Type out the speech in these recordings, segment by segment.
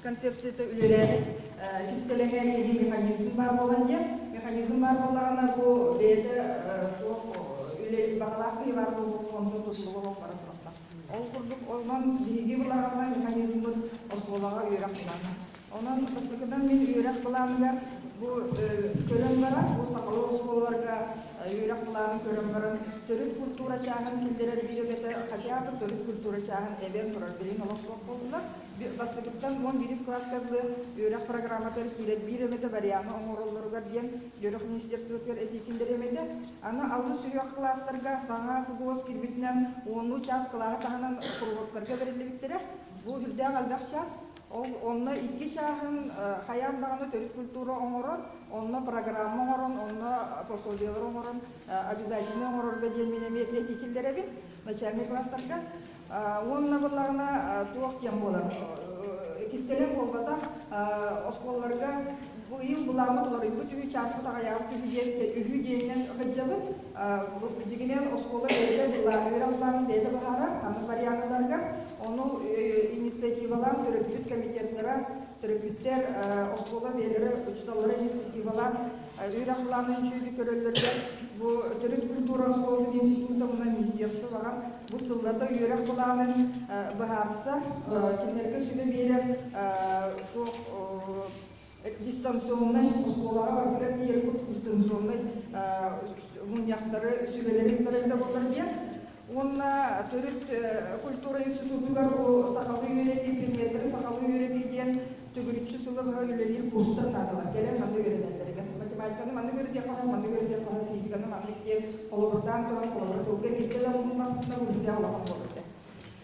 концепцията үлэлээбит кистэлэҥэр киһи механизм баар буолан диэн механизм баар буоллаҕына бу бэйэтэ туох үлэ баҕалаах киһи баар буолбут онно оскуолаҕа бара турахтар ол курдук онон биһиги былаҕаҥҥа механизммыт оскуолаҕа үөрэх ылана Онон бастакытынан мин үөрэх былааныгар бу көрөн баран, бу сахалыы оскуолаларга үөрэх былаанын көрөн баран, төрүт культура чааһын киллэрэр бириэмэтэ хотя бы төрүт культура чааһын эбэн турар билин олохсуох буоллулар. Бастакыттан уон биирис кылааска арылы үөрэх программатыгар киирэр бириэмэтэ варианы оҥороллоругар диэн Дьөрөх министерствотыгар этии киллэриэмэтэ. Аны алыс үрэх класстарга саҥа КГУОС кирбитинэн онну чаас кылааһы таһынан куруһуоктарга бэриллибиттэрэ. Бу үрдээх элбэх чаас Ол онно икки чааһын хайаан даҕаны төрүт культура оҥорон, онно программа оҥорон, онно пособиелары оҥорон обязательнай оҥорорго диэн мин эмиэ этии киллэрэбин начальнай кылаастарга. Уонна буоллаҕына туох диэн буолар иккистэнэн буолбатах оскуолаларга быйыл былааммыт уларыйбыт үһү чааспыт аҕыйаабыт үһү диэн үһү диэнинэн кырдьабын Клуб дьигинэн оскуола бэйэтэ үөрэх планын бэйэтэ быһаарар, ханнык варианныларыгар. Ону инициативалаан төрөппүт комитеттара, төрөппүттэр оскуола бэйэлэрэ учууталлара инициативалаан үөрэх планын чүүрү көрөллөрүгэр бу төрүт культура оскуола институт омуна министерство баҕан бу сыллата үөрэх планын быһаарса кинилэргэ сүбэ биэрэ суох дистанционнай оскуолаҕа барбыта тиийэрбит дистанционнай мунньахтары сүбэлэрин тарайда буоллар диэн уонна төрүт культура институтугар бу сахалыы үөрэтии предметтэрин сахалыы үөрэтии диэн төгүрүччү сылы быһа үлэлиир курстар наадалар кэлэн манна үөрэтэллэригэр математиканы маннык үөрэтиэх хоһо маннык үөрэтиэх хоһо физиканы маннык диэн холобурдаан туран холобур тылга киирдэлэр муннахтына быһыытыах олоҕун буолар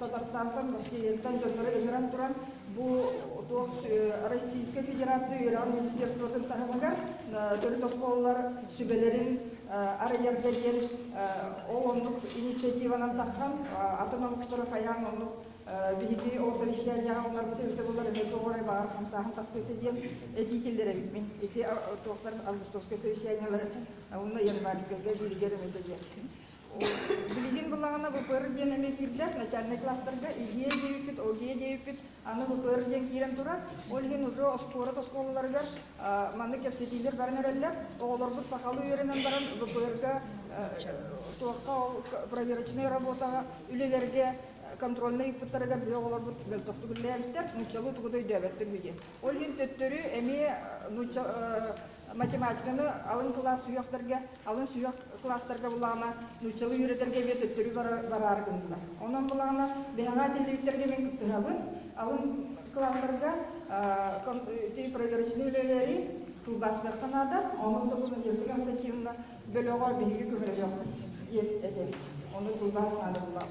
Татарстантан, Башкирияттан дьоннору ыҥыран туран, бу туох Российскай Федерация үөрэҕин министерствотын таһымыгар төрүт оскуолалар сүбэлэрин арыйарга диэн ол оннук инициативанан тахсан атын омуктары хайаан оннук биһиги ол совещанияҕа уларбыты өссө булар эмиэ суох орай баҕар хамсааһын тахсыыта диэн этии киллэриммин ити туохтар августовскай совещаниялар уонна январьскайга бииригэр эмэтэ диэн Билигин былаҕана ВПР диэн эмиэ киирбэт, начальнай класстарга идиэ диэбиппит, о ге диэбиппит, аны ВПР диэн киирэн турар, ол иһин уже оскуола оскуолаларыгар маннык кэпсэтиилэр баран эрэллэр. Оҕолорбут сахалыы үөрэнэн баран ВПР-га туохха ол проверочнай работаҕа үлэлэргэ контрольнай ыыппыттарыгар биһи оҕолорбут мөлтөхтүк үллээбиттэр, нууччалыы тугу да өйдөөбөттөр үһү диэн. Ол иһин төттөрү эмиэ нуучча математиканы алын кылаас сүһүөхтэргэ, алын сүһүөх кылаастарга былаана нууччалыы үөрэтэргэ эмиэ төттөрү бараары гынна. Онон былаана биһаҕаа тиллибиттэргэ мин кыттыһабын. Алын кылаастарга прозрачнай үлэлэри тылбаастыахха наада. Онон документальнай ассоциативна бөлөҕө биһиги көһөрөлөөх этэ. Ону тылбаас наада булаам.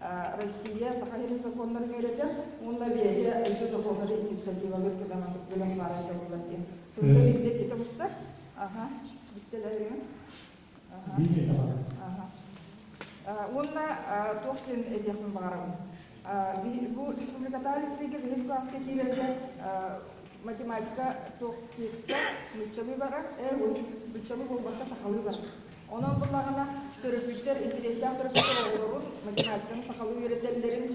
Россия саха сирин сокуоннарын үөрэтэ уонна бэйэтэ дойду дохуотар инициативалыыр кытаанахтык бэлэх баарын тобулла сиэн. Сылга билдэтитэ устар. Аха, бүттэлэрин. Аха. Уонна туох диэн этиэхпин баҕарабын. Бу республикатаах лицейгэ биһис класска киирэргэ математика туох текстэ нууччалыы барар, э, быччалыы буолбакка сахалыы барар. Онон буоллаҕына, төрөппүттэр, интэриэстээх төрөппүттэр оҕолорун, математиканы сахалыы үөрэтэллэрин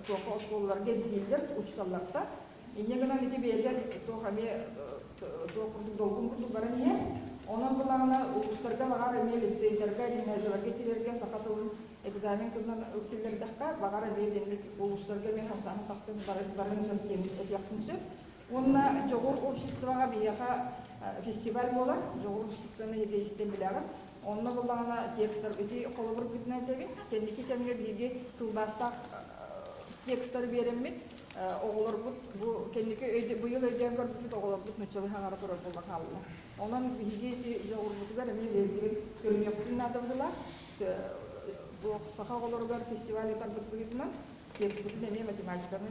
туохха оскуолаларга ирдииллэр, учууталлартан. Инньэ гынан ити бэйэтин туох эмиэ туох курдук долгун курдук баран иһэр. Онон буоллаҕына, улуустарга баҕар эмиэ лицейдарга, гимназияларга киирэргэ саха тылын экзамен кылынан киллэрдэххэ, баҕар эмиэ итинник улуустарга эмиэ хамсааһын тахсан барарын сөп диэн этиэхпин сөп. Уонна дьоҕур обществоҕа биһиэхэ фестиваль буолар. Дьоҕур обществоны ити истэн билэҕин. Онно буоллаҕына текстар ити холобургутун этэбин. Кэнники кэмҥэ биһиги тылбаастаах текстары биэрэммит. Оҕолорбут бу кэнники быйыл өйдөөн көрбүппүт, оҕолорбут нуччалыы хаҥара турар буола хаалла. Онон биһиги ити дьоҕурбутугар эмиэ үөрүүнүн көрүнүөхпүн наадабытылаах. Саха оҕолоругар фестиваль утарбыт быһыытынан текстпытын эмиэ математиканы